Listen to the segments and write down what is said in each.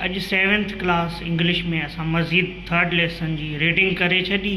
اڄ seventh class English ۾ اسان مزيد ٿرڊ ليسن جي ريڊنگ ڪري ڇڏي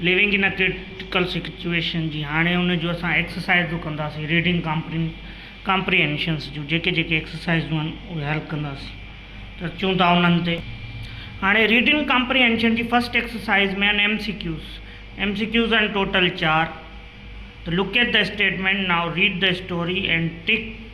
ليونگ ان ڪرٽيڪل سچويشن جي هاڻي ان جو اسان ايڪسرسائزون ڪنداسين ريڊنگ ڪامپرين ڪامپريهنشنس جون جيڪي جيڪي ايڪسرسائزون آهن اهي حل ڪنداسين ته چون ٿا انهن تي هاڻي ريڊنگ ڪامپريهنشن جي فرسٽ ايڪسرسائز ۾ آهن M C Qs M C Qs آهن ٽوٽل چار ته locate the statement now read the story and tick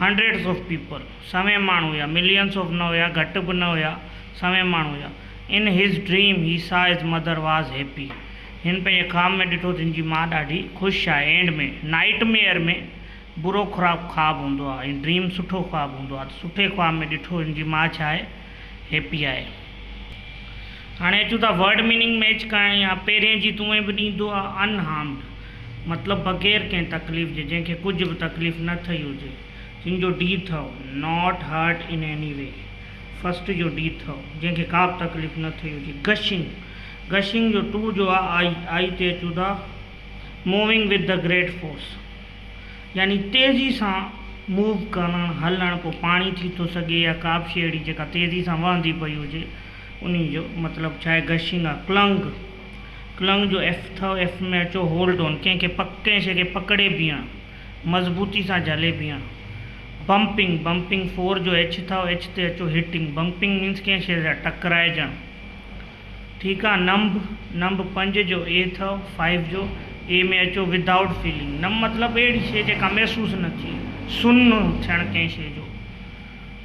hundreds of people, سوين ماڻهو هيا، ملينز آف نه هيا، گهٽ به نه هيا، سوين ماڻهو هيا. In his dream he saw his mother was happy. هن پنهنجي خواب ۾ ڏٺو ته هن جي ماء ڏاڍي خوش آهي. اينڊ ۾ نائيٽ ميئر ۾ برو خراب خواب هوندو آهي ۽ ڊريم سٺو خواب هوندو آهي ته سٺي خواب ۾ ڏٺو هن جي ماء ڇا آهي هيپي آهي. هاڻي اچون ٿا ورڊ ميننگ ميچ ڪرڻ يا پهرين جي تونء به ڏيندو آهي ان هارمڊ. مطلب بغير ڪنهن تڪليف جي، جنهن کي ڪجهه به تڪليف نه ٿئي هجي، جن جو ڊي ٿئو، Not hurt in any way، first جو ڊي ٿئو، جنهن کي ڪابه تڪليف نه ٿئي هجي، گشنگ، گشنگ جو ٽو جو آء، آء تي اچون ٿا، moving with the great force, يعني تيزي سان موو ڪرڻ، هلڻ، پوء پاڻي ٿي ٿو سگهي يا ڪابه شيء اهڙي جيڪا تيزي سان وهندي پئي هجي، انهي جو مطلب ڇا آهي، گشنگ آهي، ڪلنگ. ڪلنگ جو ايف اٿئو، ايف ۾ اچو، هولڊ آن، ڪنهن کي پڪ ڪنهن شيء کي پڪڙي بيهڻ، مضبوطي سان جهلي بيهڻ. بمپنگ، Bumping، فور جو ايڇ اٿئو، ايڇ تي اچو، هٽنگ، Bumping، مينس ڪنهن شيء سان ٽڪرائجڻ. ٺيڪ آ. نمب، Numb، پنج جو اي اٿئو، فائيو جو اي ۾ اچو، Without Feeling، نمب مطلب اهڙي شيء جيڪا محسوس نه ٿئي، سن ٿيڻ ڪنهن شيء جو.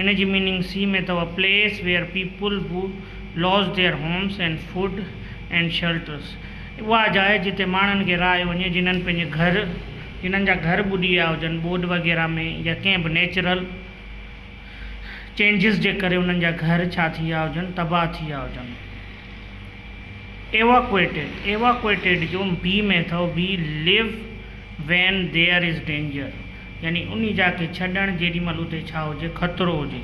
ان جي ميننگ سي ۾ اٿو، a place where people who lose their homes and food and shelters, اها جاء جتي ماڻهن کي رهايو وڃي جنھن پنھنجي گهر جنھن جا گهر ٻڏي ويا هجن ٻوڏ وغيره ۾ يا ڪنھن به نيچرل چينجز جي ڪري انھن جا گهر ڇا ٿي ويا هجن تباهه ٿي ويا هجن. ايواڪوئيٽيڊ Evacuated جو بي ۾ اٿو، we leave when there is danger. يعني انهي جاء کي ڇڏڻ جيڏي مهل اتي ڇا هجي خطرو هجي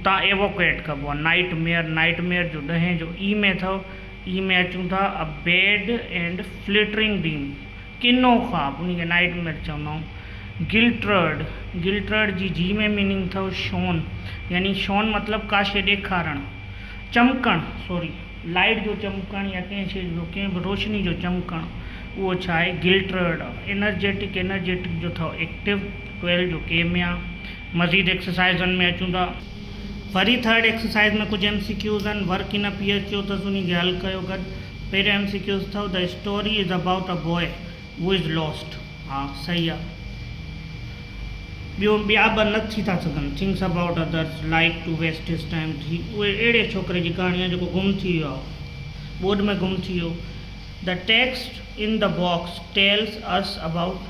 تان ايوڪوئيٽ ڪبو آهي نائيٽ ميئر نائيٽ ميئر جو ڏهين جو اي ۾ اٿئو اي ۾ اچون ٿا a bad and frightening dream ڪنو خواب انهي کي نائيٽ ميئر چوندا آهيون گلٽررڊ گلٽررڊ جي جي ۾ ميننگ اٿئو شون يعني شون مطلب ڪا شي ڏيکارڻ چمڪڻ سوري لائيٽ جو چمڪڻ يا ڪنهن شيء جو ڪنهن به روشني جو چمڪڻ اهو ڇا آهي گلٽررڊ انرجيٽڪ Energetic جو ٿئو ايڪٽيو ٽويلو جو ڪيميا مزيد ايڪسرسائيزن ۾ اچون ٿا پھرين ٿرڊ ايڪسرسائيز ۾ ڪجهه ايم سي ڪيوز آهن work in P H Q اٿس انهي کي حل ڪيو گڏ پهريون ايم سي ڪيوز اٿئو The story is about a boy who is lost. ها صحيح آ ٻيو ٻيا به نه ٿي ٿا سگهن thinks about others like to waste his time ٿي اهي اهڙي ڇوڪري جي ڪهاڻي آ جيڪو گم ٿي ويو آ ٻوڏ ۾ گم ٿي ويو The text in the box tells us about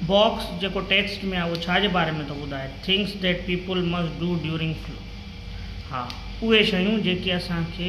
box جيڪو ٽيڪسٽ ۾ آ اهو ڇا جي باري ۾ ٿو ٻڌائي thinks that people must do during flood ها اهي شيون جيڪي اسان کي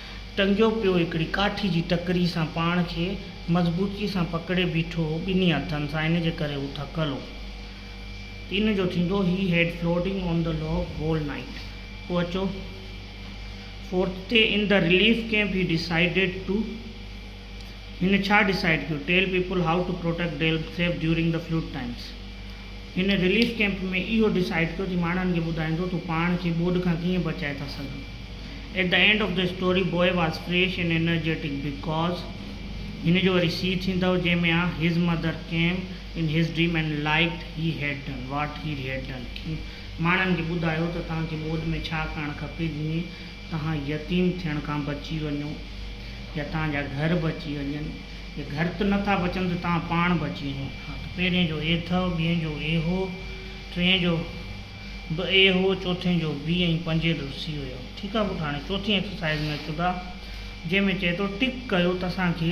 ٽنگيو پيو هڪڙي ڪاٺي جي ٽڪري سان پاڻ کي مضبوطي سان پڪڙي بيٺو هو ٻنهي هٿن سان ان جي ڪري هو ٿڪل هو ان جو ٿيندو he had floating on the log whole night پوء اچو فورٿ تي in the relief camp he decided to هن ڇا ڊسائيڊ ڪيو؟ Tell people how to protect them self during the flood times هن رليف ڪيمپ ۾ اهو ڊسائيڊ ڪيو ته ماڻهن کي ٻڌائيندو ته هو پاڻ کي ٻوڏ کان ڪيئن بچائي ٿا سگهن. At the end of the story boy was fresh and energetic because هن جو وري سي ٿيندؤ جنهن ۾ آ his mother came in his dream and like he had done what he had done. ماڻهن کي ٻڌايو ته توهان کي ٻوڏ ۾ ڇا ڪرڻ کپي جيئن توهان يتيم ٿيڻ کان بچي وڃو يا توهان جا گهر بچي وڃن، جي گهر ته نٿا بچن ته توهان پاڻ بچي وڃو. ها ته پهرين جو اي اٿئو، ٻين جو اي هو، ٽئين جو به اي هو، چوٿين جو بي ۽ پنجين جو سي هيو. ٺيڪ آ پٽ هاڻي چوٿين ايڪسرسائيز ۾ اچون ٿا جنهن ۾ چئي ٿو ٽڪ ڪيو ته اسان کي.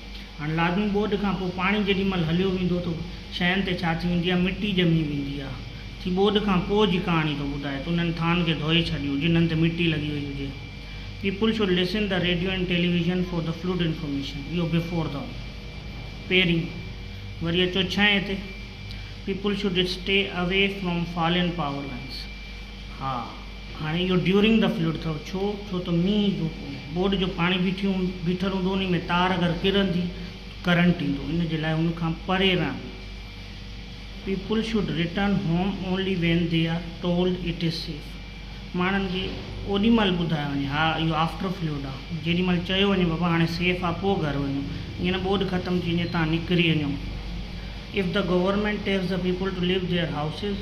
هاڻ لازمي ٻوڏ کان پوء پاڻي جيڏي مهل هليو ويندو ته شين تي ڇا ٿي ويندي آهي مٽي ڄمي ويندي آهي ٿي ٻوڏ کان پوء جي ڪهاڻي ٿو ٻڌائي ته انهن ٿانن کي ڌوئي ڇڏيو جنهن تي مٽي لڳي وئي هجي people should listen the radio and television for the flood information اهو بفور دي پيرين وري اچو ڇهين تي people should stay away from fallen power lines ها هاڻي اهو ڊيورنگ دي فلڊ اٿو ڇو ڇو ته مينهن جو بورڊ جو پاڻي بيٺيون بيٺل هوندو انهي ۾ تار اگر ڪرندي ڪرنٽ ايندو ان جي لاء ان کان پري رهندي people should return home only when they are told it is safe ماڻهن کي اوڏي مهل ٻڌايو وڃي ها اهو آفٽر فلوڊ آ جيڏي مهل چيو وڃي بابا هاڻي سيف آ پو گهر وڃو ائين نه ٻوڏ ختم ٿي وڃي تان نڪري وڃو if the government tells the people to leave their houses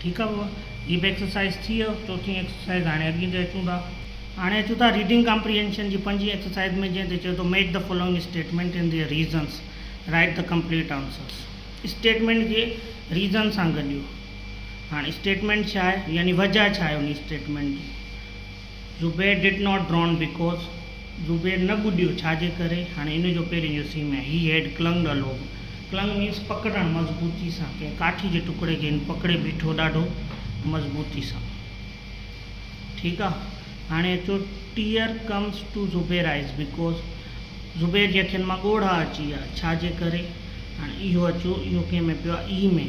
ٺيڪ آ بابا هي به ايڪسرسائز ٿي ويو چوٿين ايڪسرسائز هاڻي اڳين تي اچون ٿا هاڻي اچون ٿا ريڊنگ ڪامپريهينشن جي پنجين ايڪسرسائز ۾ جنهن تي چئي ٿو make the following statement in their reasons write the complete answers statement کي ريزن سان گڏيو هاڻي اسٽيٽمينٽ ڇا آهي يعني وجه ڇا آهي انهي اسٽيٽمينٽ جي. Zubair did not drown because Zubair نه ٻڏيو ڇا جي ڪري هاڻي ان جو پهرين جو سين آهي هي هيڊ ڪلنگڊ ا لوگ ڪلنگ مينس پڪڙڻ مضبوطي سان ڪنهن ڪاٺي جي ٽڪڙي کي هن پڪڙي بيٺو ڏاڍو مضبوطي سان ٺيڪ آ هاڻي اچو tear comes to Zubair eyes because Zubair جي اکين مان ڳوڙها اچي ويا ڇا جي ڪري هاڻي اهو اچو اهو ڪنهن ۾ پيو آ اي ۾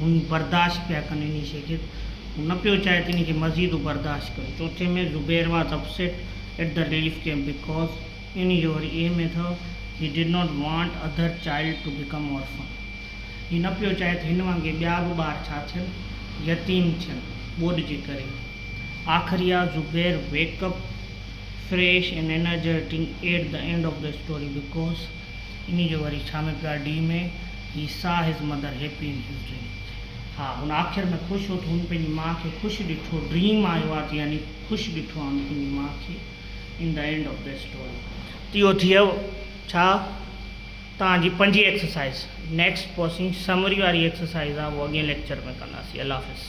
هو ايئن برداشت پيا ڪن انهي شيء کي هو نه پيو چاهي ته انهي کي مزيد هو برداشت ڪن چوٿين ۾ Zubair was upset at the relief camp because in your اي م اٿو he did not want other child to become orphan هي نه پيو چاهي ته هن وانگي ٻيا به ٻار ڇا ٿين يتيم ٿين ٻوڏ جي ڪري آخري آ Zubair wake up fresh and energetic at the end of the story because انهي جو وري ڇا ۾ plot D ۾ he saw his mother happy in his dream ها هن آخر ۾ خوش هو ته هن پنهنجي مان کي خوش ڏٺو ڊريم آء واچ يعني خوش ڏٺو هن پنهنجي مان کي in the end of this story تي اهو ٿيو ڇا توهان جي پنجين ايڪسرسائز نيڪسٽ پوسنگ سمري واري ايڪسرسائز آ اهو اڳين ليڪچر ۾ ڪنداسين الله حافظ.